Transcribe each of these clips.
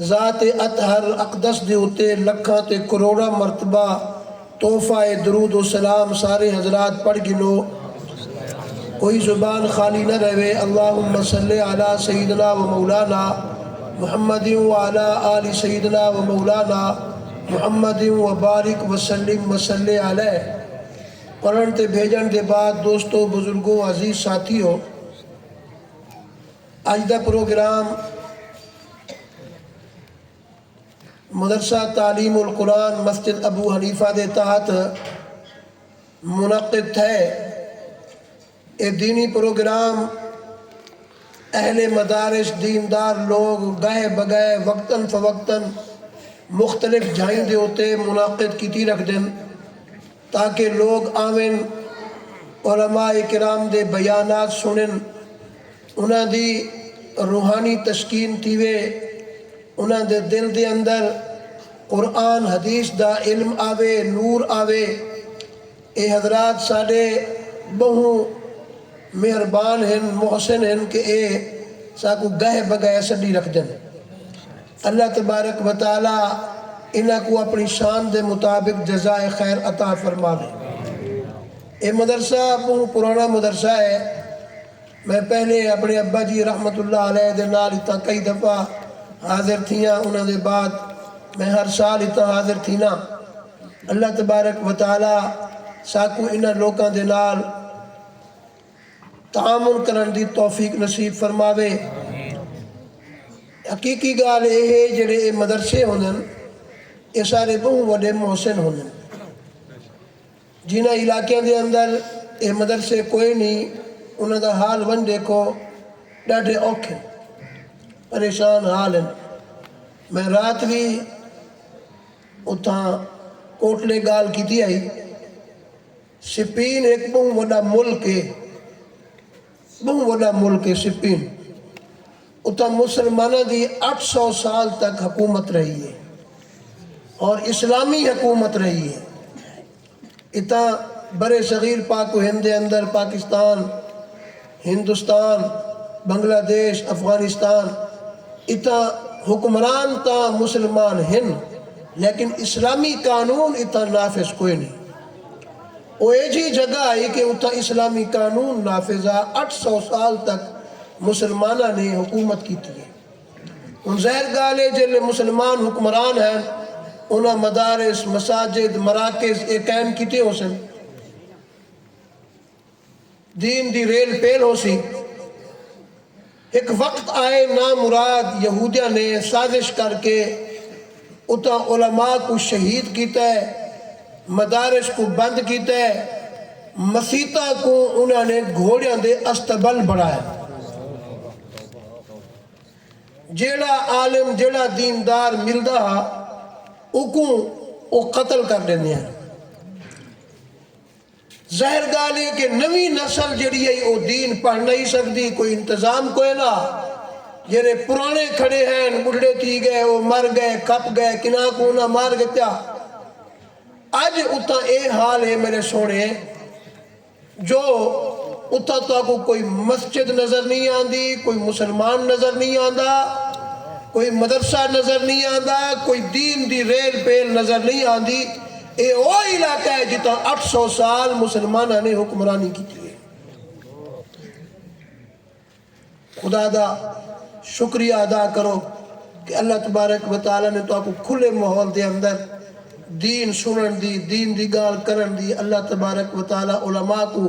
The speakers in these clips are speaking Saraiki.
ذات اطہر اقدس دے اتے لکھاں تے کروڑاں مرتبہ تحفہ اے درود و سلام سارے حضرات پڑھ گھنو کوئی زبان خالی نہ رہوے اللہم صلی علی سیدنا و مولانا محمد و علی آل سیدنا و مولانا محمد و بارک وسلم وصلی علیہ پڑھن تے بھیجن دے بعد دوستو بزرگو عزیز ساتھیو اج دا پروگرام مدرسہ تعلیم القرآن مسجد ابو حنیفہ دے تحت منعقد تھئے۔ اے دینی پروگرام اہل مدارس دیندار لوگ گاہ بگاہ وقتا فوقتا مختلف جھائیں دے اتے منعقد کیتی رکھدن۔ تاکہ لوگ آون، علماء کرام دے بیانات سنڑن، انہاں دی روحانی تسکین تھیوے، انہاں دے دل دے اندر قرآن حدیث دا علم آوے، نور آوے۔ اے حضرات ساڈے بہوں مہربان ہن، محسن ہن کہ اے ساکوں گہہ بگہہ سڈی رکھدن۔ اللہ تبارک و تعالی انہاں کوں اپݨی شان دے مطابق جزائے خیر عطا فرماوے۔ اے مدرسہ ٻہوں پراݨا مدرسہ ہے۔ میں پہلے اپݨے ابا جی رحمت اللہ علیہ دے نال اتھاں کئی دفعہ حاضر تھیاں انہاں دے بعد میں ہر سال اتھاں حاضر تھینا۔ اللہ تبارک و تعالی ساکوں انہاں لوکاں دے نال۔ تعاون کرنڑ دی توفیق نصیب فرماوے۔ حقیقی گالھ اے ہے جیڑھے اے مدرسے ہوندن اے سارے بہوں وڈے محسن ہوندن۔ جنہاں علاقیاں دے اندر اے مدرسے کوئے نی انہاں دا حال ونج ڈیکھو ڈاڈھے اوکھ ہن۔ پریشان حال ہن۔ میں رات وی اتھاں کوٹلے گالھ کیتی ہئی۔ سپین ہک ٻہوں وݙا ملک ہے ٻہوں وݙا ملک ہے سپین اتھاں مسلماناں دی اٹھ سو سال تک حکومت رہی ہے اور اسلامی حکومت رہی ہے اتھاں برصغیر پاک و ہند دے اندر پاکستان ہندوستان، بنگلہ دیش، افغانستان اتھاں حکمران تاں مسلمان ہن لیکن اسلامی قانون اتھاں نافذ کوئ نی۔ او ایجھی جگہ ہئی کہ اتھاں اسلامی قانون نافذ ہا، اٹھ سو سال تک مسلماناں نے حکومت کیتی ہے۔ ہن ظاہر گالھ ہے جیلے مسلمان حکمران ہین انہاں مدارس، مساجد، مراکز اے قائم کیتے ہوسن۔ دین دی ریل پیل ہوسی۔ ہک وقت آئے نامراد یہودیاں نے سازش کر کے اتاں علماء کوں شہید کیتے، مدارس کوں بند کیتے، مسیتاں کوں انہاں نے گھوڑیاں دے استبل بنڑائے۔ جیہڑا عالم جیہڑا دیندار ملدا ہا اوکوں او قتل کر ڈیندے ہن۔ ظاہر گالھ اے کہ نویں نسل جیڑھی ہئی او دین پڑھ نئیں سگدی، کوئی انتظام کوئے نہ ہا۔ جیڑھے پرانے کھڑے ہین بڈھڑے تھی گئے، او مر گئے، کھپ گئے، کنہاں کوں انہاں مار گھتیا۔ اج اتھاں اے حال اے میڈے سوہݨے جو اتھاں تہاکوں کوئی مسجد نظر نئیں آندی، کوئی مسلمان نظر نئیں آندا، کوئی مدرسہ نظر نئیں آندا، کوئی دین دی ریل پیل نظر نئیں آندی۔ اے او علاقہ ہے جتھاں اٹھ سو سال مسلماناں نے حکمرانی کیتی ہے۔ خدا دا شکریہ ادا کرو کہ اللہ تبارک و تعالی نے تہاکوں کھلے ماحول دے اندر دین سنڑݨ دی، دین دی گالھ کرݨ دی، اللہ تبارک و تعالی علماء کوں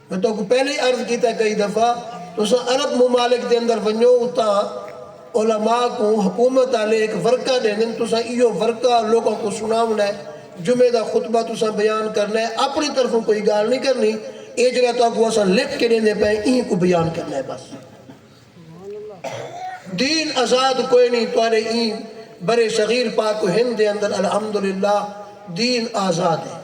میں تہاکوں پہلے ہی عرض کیتا ہے کئی دفعہ تساں عرب ممالک دے اندر ونجو اتھاں علماء کوں حکومت آلے ہک ورقہ ڈیندن تساں ایہو ورقہ لوکاں کوں سناونڑاں ہے جمعے دا خطبہ تساں بیان کرنا ہے اپنی طرفوں کوئی گالھ نی کرنی اے جیہڑا تہاکوں اساں لکھ کے ڈیندے پئے ہیں ایں کوں بیان کرنا ہے بس دین آزاد کوئی نی تہاڈے ایں بر صغیر پاک و ہند دے اندر الحمدللہ دین آزاد ہے۔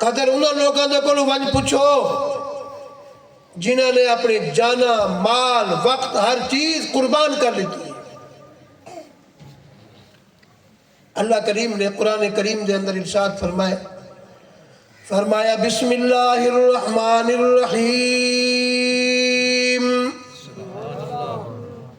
قدر انہاں لوکاں دے کولوں ونڄ پچھو جنہاں نے اپݨی جاناں، مال، وقت ہر چیز قربان کر ݙتی ہے۔ اللہ کریم نے قرآن کریم دے اندر ارشاد فرمائے فرمایا بسم اللہ الرحمن الرحیم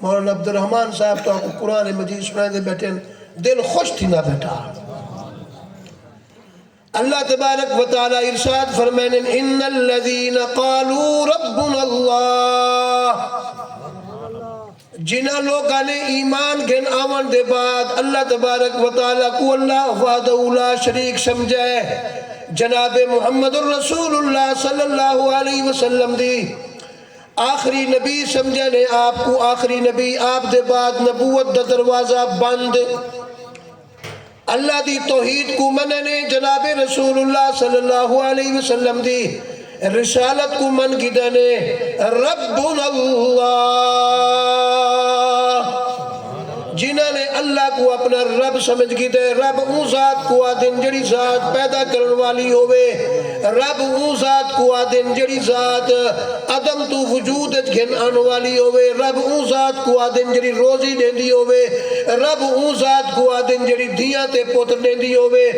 مولانا عبدالرحمن صاحب تہاکوں قرآن مجید سݨائیندے ٻیٹھن دل خوش تھیندا ٻیٹھا۔ اللہ تبارک و تعالی ارشاد فرمائن ان الذين قالوا ربنا اللہ جنہ لوکاں نے ایمان گھن آون دے بعد اللہ تبارک و تعالی کو اللہ وحدہ لا شریک سمجھا ہے جناب محمد الرسول اللہ صلی اللہ علیہ وسلم دی آخری نبی سمجھن ہے آپ کوں آخری نبی آپ دے بعد نبوت دا دروازہ بند اللہ دی توحید کوں منن ہے جناب رسول اللہ صلی اللہ علیہ وسلم دی رسالت کوں من گھدن ہے ربنا اللہ جنہاں نے اللہ کوں اپنا رب سمجھ کیتے رب اوں ذات کو آدھن جڑی ذات پیدا کرن والی ہووے رب اوں ذات کو آدھن جڑی ذات عدم توں وجود اچ گھن آن والی ہووے رب اوں ذات کو آدھن جڑی روزی ڈیندی ہووے رب اوں ذات کو آدھن جڑی دھیاں تے پتر ڈیندی ہووے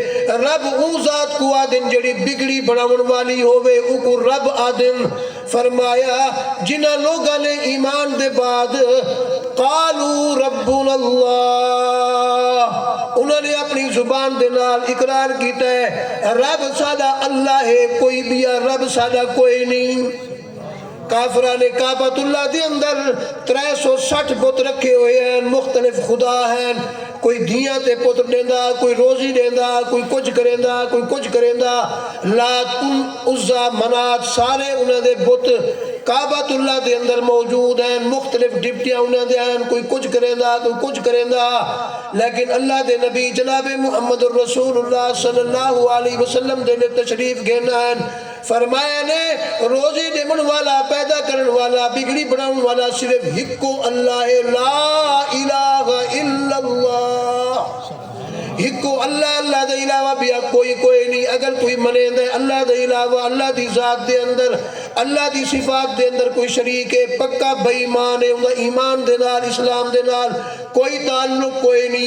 رب اوں ذات کو آدھن جڑی بگڑی بناون والی ہووے اوکوں رب آدھن۔ فرمایا جنہاں لوگاں نے ایمان دے بعد قالو ربنا اللہ انہاں نے اپنی زبان دے نال اقرار کیتا ہے رب ساڈا اللہ ہے کوئی بیا رب ساڈا کوئے نی کافراں نے کعبۃ اللہ دے اندر ترے سو سٹھ بت رکھے ہوئے ہن مختلف خدا ہن کوئی دھیاں تے پتر ݙیندا، کوئی روزی ݙیندا، کوئی کجھ کریندا، کوئی کجھ کریندا۔ لات، العزی، منات سارے انہاں دے بت کعبۃ اللہ دے اندر موجود ہن۔ مختلف ڈپٹیاں انہاں دیاں ہن، کوئی کجھ کریندا، کوئی کجھ کریندا۔ لیکن اللہ دے نبی جناب محمد الرسول اللہ صلی اللہ علیہ وسلم جیلھے تشریف گھن آئن، فرمایا نے روزی ݙیوݨ والا، پیدا کرݨ والا، بگڑی بݨاوݨ والا صرف ہکو اللہ ہے لا الہ الا اللہ ہکو اللہ اللہ دے علاوہ ٻیا کوئی کوئی نی اگر کوئی منیندے اللہ دے علاوہ اللہ دی ذات دے اندر اللہ دی صفات دے اندر کوئی شریک ہے پکا بے ایمان ہے اوندا ایمان دے نال اسلام دے نال کوئی تعلق کوئی نی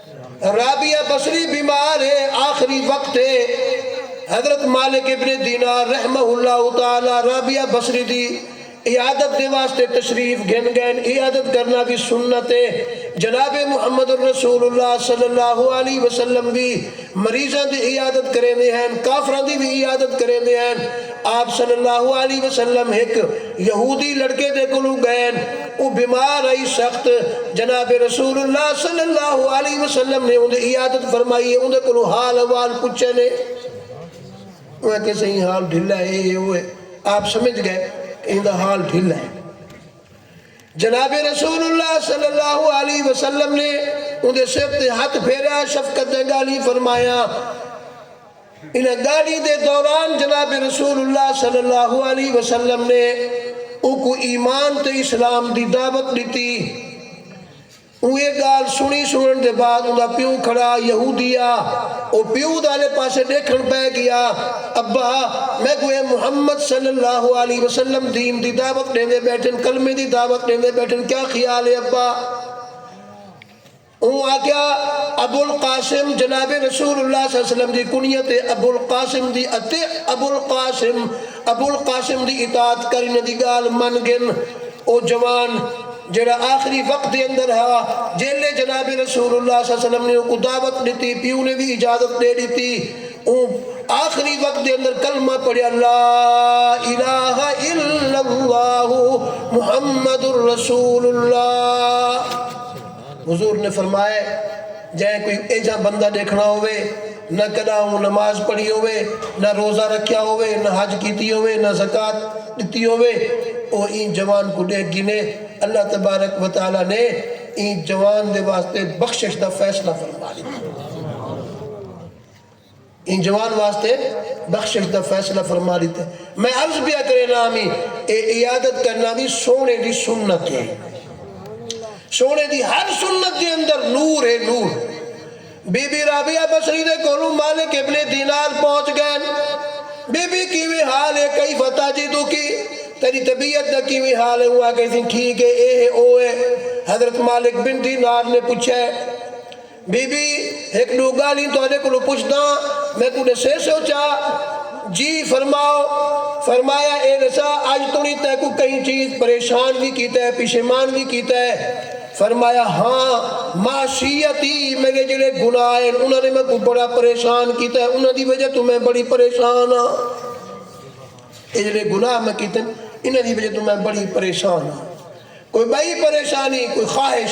رابعہ بصری بیمار ہے آخری وقت ہے حضرت مالک ابن دینار رحمہ اللہ تعالی رابعہ بصری دی عیادت دے واسطے تشریف گھن گئن عیادت کرنا وی سنت ہے جناب محمد الرسول اللہ صلی اللہ علیہ وسلم وی مریضاں دی عیادت کریندے ہن کافراں دی وی عیادت کریندے ہن آپ صلی اللہ علیہ وسلم ہک یہودی لڑکے دے کولوں ڳئن، او بیمار ہئی سخت، جناب رسول اللہ صلی اللہ علیہ وسلم نے اوندی عیادت فرمائی ہے، اوندے کولوں حال احوال پچھن ہے۔ اوہ آکھیا سئیں حال ڈھلا ہے، اے ہے او ہے، آپ سمجھ ڳئے کہ ایندا حال ڈھلا ہے۔ جناب رسول اللہ صلی اللہ علیہ وسلم نے اوندے سر تے ہتھ پھیریا، شفقت دے ڳالھیں فرمایاں۔ انہاں گالھیں دے دوران جناب رسول اللہ صلی اللہ علیہ وسلم نے اونکوں ایمان تے اسلام دی دعوت ݙتی۔ اوں ایہ گالھ سݨی، سݨݨ دے بعد اوندا پیو کھڑا یہودی ہا، او پیو دا آلے پاسے ݙیکھݨ پئے ڳیا، ابا! میکوں اے محمد صلی اللہ علیہ وسلم دین دی دعوت ݙیندے ٻیٹھن، کلمے دی دعوت ݙیندے ٻیٹھن، کیا خیال ہے ابا؟ اوں آکھیا ابوالقاسم جناب رسول اللہ صلی اللہ علیہ وسلم دی کنیت ہے ابوالقاسم دی اتے ابوالقاسم ابوالقاسم دی اطاعت کر انہاں دی گالھ من گن۔ او جوان جیہڑا آخری وقت دے اندر ہا جیلھے جناب رسول اللہ صلی اللہ علیہ وسلم نے اوکوں دعوت ڈتی پیو نے وی اجازت ڈے ڈتی اوں آخری وقت دے اندر کلمہ پڑھیا لا الہ الا اللہ محمد رسول اللہ۔ حضور نے فرمایا جئیں کوئی اینجھا بندہ ڈیکھنا ہووے نہ کڈاں اوں نماز پڑھی ہووے نہ روزہ رکھیا ہووے نہ حج کیتی ہووے نہ زکوۃ ڈتی ہووے او ایں جوان کوں ڈیکھ گھنے اللہ تبارک و تعالی نے ایں جوان دے واسطے بخشش دا فیصلہ فرما ڈیندے۔ انجوان واسطے بخشش دا فیصلہ فرما ݙتے۔ میں عرض پیا کرینداں ہمی اے عیادت کرنا وی سوہݨے دی سنت ہے۔ سوہݨے دی ہر سنت دے اندر نور ہے نور۔ بی بی رابعہ بصری دے کولوں مالک ابن دینار پہنچ ڳئن۔ بی بی کیویں حال ہے کیف تجدک تیݙی طبیعت دا کیویں حال ہے اوں آکھیسی ٹھیک ہے اے ہے او ہے۔ حضرت مالک بن دینار نے پچھئے۔ بی بی، ہک ݙو ڳالھیں تہاݙے کولوں پچھداں، میکوں ݙسیسو چا؟ جی فرماؤ۔ فرمایا اے ݙسا اڄ توڑیں تیکوں کہیں چیز پریشان وی کیتا ہے پشیمان وی کیتا ہے؟ فرمایا ہاں معصیتی میݙے جیڑھے گناہ ہن انہاں نے میکوں بڑا پریشان کیتا ہے انہاں دی وجہ توں میں بڑی پریشان ہاں۔ اے جیڑھے گناہ میں کیتن انہاں دی وجہ توں میں بڑی پریشان ہاں۔ کوئی ٻئی پریشانی کوئی خواہش؟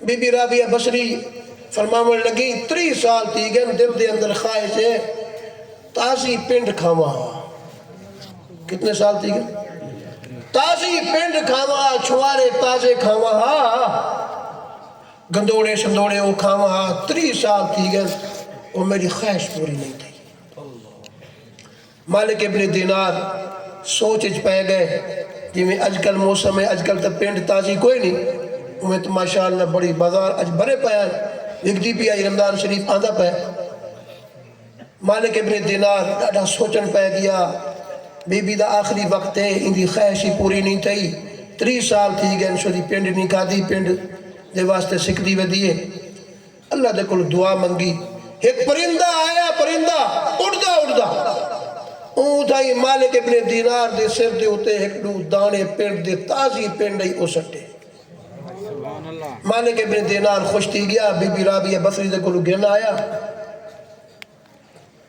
بی بی رابعہ بصری فرماوݨ لڳی، تریہہ سال تھی ڳن دل دے اندر خواہش ہے تازی پنڈ کھاواں ہا۔ کتنے سال تھی ڳن؟ تازی پنڈ کھاواں ہا، چھوارے تازے کھاواں ہا، گندوڑے شندوڑے او کھاواں ہا، تریہہ سال تھی ڳن او میݙی خواہش پوری نئیں تھئی۔ مالک ابن دینار سوچ اچ پئے گئے جیویں اج کل موسم ہے اج کل تاں پنڈ تازی کوئے نی اوویں تاں ماشاء اللہ بڑی بازار اچ بھرے پئے ہن وکدی پی آئی رمضان شریف آندا پئے مالک ابن دینار ݙاڈھا سوچݨ پئے گیا بی بی دا آخری وقت ہے ایندی خواہش ہی پوری نی تھئی تریہہ سال تھی گئن شودی پنڈ نی کھادی پنڈ دے واسطے سکدی ودی ہے۔ اللہ دے کولوں دعا منگی۔ ہک پرندہ آیا، پرندہ اڈدا اڈدا اوں تھائیں مالک ابن دینار دے سر دے اتے ہک ڈو دانے پنڈ دے تازی پنڈ ائی او سٹے۔ مالک ابن دینار خوش تھی گیا، بی بی رابیہ بصری دے کولوں گھن آیا۔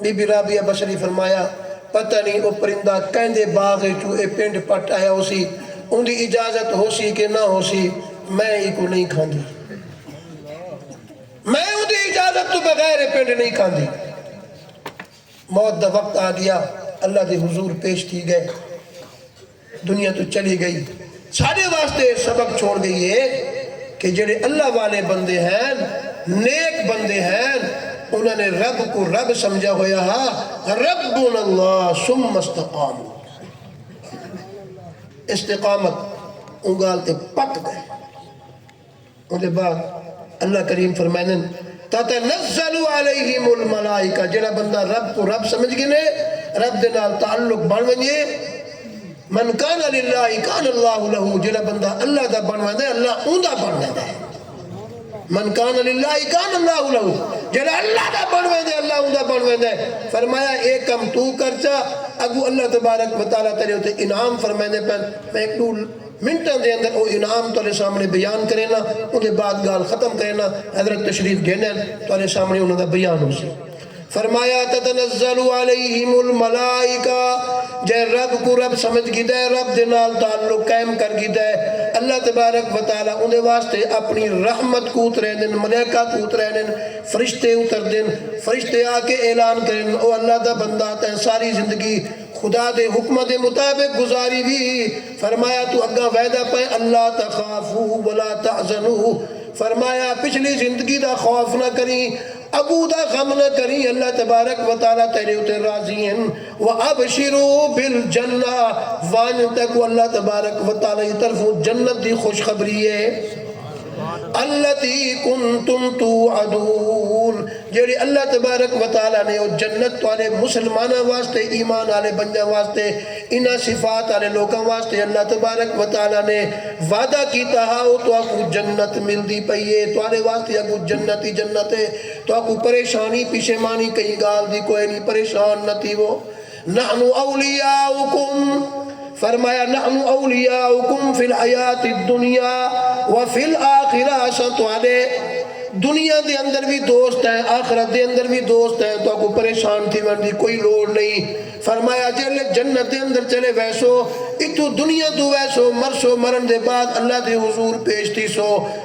بی بی رابعہ بشر نے فرمایا پتہ نی او پرندہ کیندے باغ اچوں اے پنڈ پٹ آیا ہوسی اوندی اجازت ہوسی کہ نہ ہوسی میں ایکوں نئیں کھاندی میں اوندی اجازت توں بغیر اے پنڈ نئیں کھاندی موت دا وقت آ گیا اللہ دے حضور پیش تھی گئے۔ دنیا توں چلی گئی ساڈے واسطے اے سبق چھوڑ گئی ہے کہ جیڑھے اللہ والے بندے ہن نیک بندے ہن انہاں نے رب کوں رب سمجھا ہویا ہا ربنا اللہ ثم استقاموا استقامت اوں گالھ تے پک گئے۔ اوندے بعد اللہ کریم فرمیندن، تتنزل علیہم الملائکہ جیہڑا بندہ رب کوں رب سمجھ گھنے، رب دے نال تعلق بݨ ونڄے، من کان للہ کان اللہ لہ جیہڑا بندہ اللہ دا بݨ ویندا ہے اللہ اوندا بݨ ویندا ہے، من کان للہ کان اللہ لہ جیہڑا اللہ دا بݨ ویندے اللہ اوندا بݨ ویندا ہے، فرمایا اے کم توں کرچا اڳوں اللہ تبارک و تعالی تیݙے اتے انعام فرمیندے پئن، میں ہک ݙو۔ منٹاں دے اندر او انعام تہاڈے سامنے بیان کرینداں اوندے بعد گالھ ختم کرینداں حضرت تشریف گھنن تہاڈے سامنے انہاں دا بیان ہوسی فرمایا تتنزل علیہم الملائکہ جئیں رب کوں رب سمجھ گھیدا ہے رب دے نال تعلق قائم کر گھیدا ہے اللہ تبارک و تعالی اوندے واسطے اپنی رحمت کوں اتریندن ملائکہ کوں اتریندن فرشتے اتردن فرشتے آ کے اعلان کریندن او اللہ دا بندہ تیں ساری زندگی خدا دے حکماں دے مطابق گزاری وی فرمایا توں اگاں وعدہ پئے اللہ تخافو ولا تحزنو فرمایا پچھلی زندگی دا خوف نہ کریں اگوں دا غم نہ کریں اللہ تبارک و تعالی تیڈے اتے راضی ہن وابشرو بالجنہ ونج تیکوں اللہ تبارک و تعالی دی طرفوں جنت دی خوشخبری اے۔ التی کنتم توعدون جیڑھی اللہ تبارک و تعالی نے او جنت تہاڈے مسلماناں واسطے ایمان آلے بندیاں واسطے انہاں صفات آلے لوکاں واسطے اللہ تبارک و تعالی نے وعدہ کیتا ہا او تہاکوں جنت ملدی پئی اے تہاڈے واسطے اگوں جنت ہی جنت اے تہاکوں پریشانی پشیمانی کہیں گالھ دی کوئنی پریشان نہ تھیوو نحن اولیاؤکم، فرمایا نحن اولیاؤکم فی الحیات الدنیا وفی الاخرہ اساں تہاڈے دنیا دے اندر وی دوست ہیں آخرت دے اندر وی دوست ہیں تہاکوں پریشان تھیوݨ دی کوئی لوڑ نئیں فرمایا جیلھے جنت دے اندر چلے ویسو اتھوں دنیا توں ویسو مرسو مرݨ دے بعد اللہ دے حضور پیش تھیسو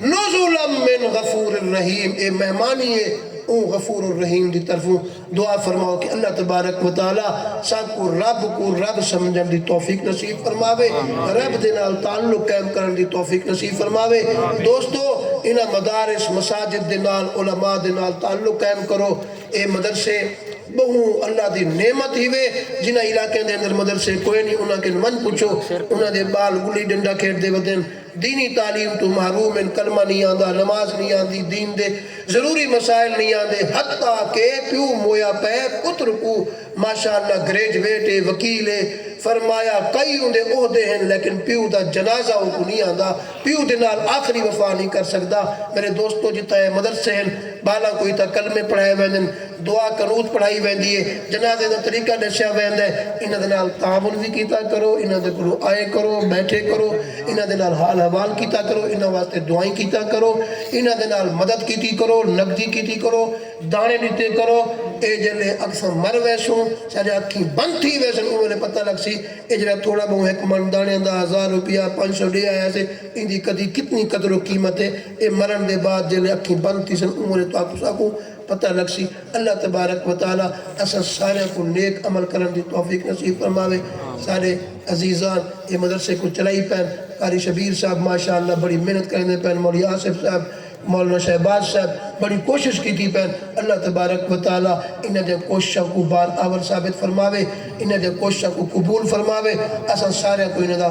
نزلا من غفور الرحیم اے مہمانی اے اوں غفور الرحیم دی طرفوں دعا فرماؤ کہ اللہ تبارک و تعالی سانکوں رب کوں رب سمجھݨ دی توفیق نصیب فرماوے رب دے نال تعلق قائم کرݨ دی توفیق نصیب فرماوے دوستو انہاں مدارس مساجد دے نال علماء دے نال تعلق قائم کرو اے مدرسے ٻہوں اللہ دی نعمت ہیوے جنہاں علاقیاں دے اندر مدرسے کوئنی انہاں کن ونڄ پچھو انہاں دے ٻال ڳلی ݙنڈا کھیݙدے ودن دینی تعلیم توں محروم ہن، کلمہ نی آندا، نماز نی آندی، دین دے ضروری مسائل نی آندے، حتی کہ پیو مویا پئے پتر کوں ماشاءاللہ گریجویٹ اے، وکیل اے، فرمایا کئی اوندے عہدے ہن لیکن پیو دا جنازہ اونکوں نی آندا، پیو دے نال آخری وفا نی کر سگدا، میرے دوستو جتھاں اے مدرسے ہن بالاں کوں اتھاں کلمے پڑھائے ویندن، دعا قنوت پڑھائی ویندی ہے۔ جنازے دا طریقہ ڈسیا ویندا ہے۔ انہاں دے نال تعاون وی کیتا کرو۔ انہاں دے کولوں آئے کرو، بیٹھے کرو۔ انہاں دے نال حال احوال کیتا کرو۔ انہاں واسطے دعائیں کیتا کرو۔ انہاں دے نال مدد کیتی کرو، نقدی کیتی کرو، دانے ڈتے کرو۔ اے جیلھے اکثاں مر ویسوں، ساڈے اکھیں بند تھی ویسن اوں ویلے پتہ لگ سی اے جیڑھا تھوڑا بہوں ہک من دانیاں دا ہزار روپیہ، پنج سو ڈے آیا سے ایندی کدی کتنی قدر و قیمت ہے۔ اے مرن دے بعد جیلھے اکھیں بند تھیسن اوں ویلے تہاکوں ساکوں۔ پتہ لگسی۔ اللہ تبارک و تعالی اساں ساریاں کوں نیک عمل کرݨ دی توفیق نصیب فرماوے۔ ساݙے عزیزان اے مدرسے کوں چلائی پئن۔ قاری شبیر صاحب ماشاء اللہ بڑی محنت کریندے پئن۔ مولوی آصف صاحب، مولانا شہباز صاحب بڑی کوشش کیتی پئن۔ اللہ تبارک و تعالی انہاں دیاں کوششاں کوں بار آور ثابت فرماوے۔ انہاں دیاں کوششاں کوں قبول فرماوے۔ اساں ساریاں کوں انہاں دا۔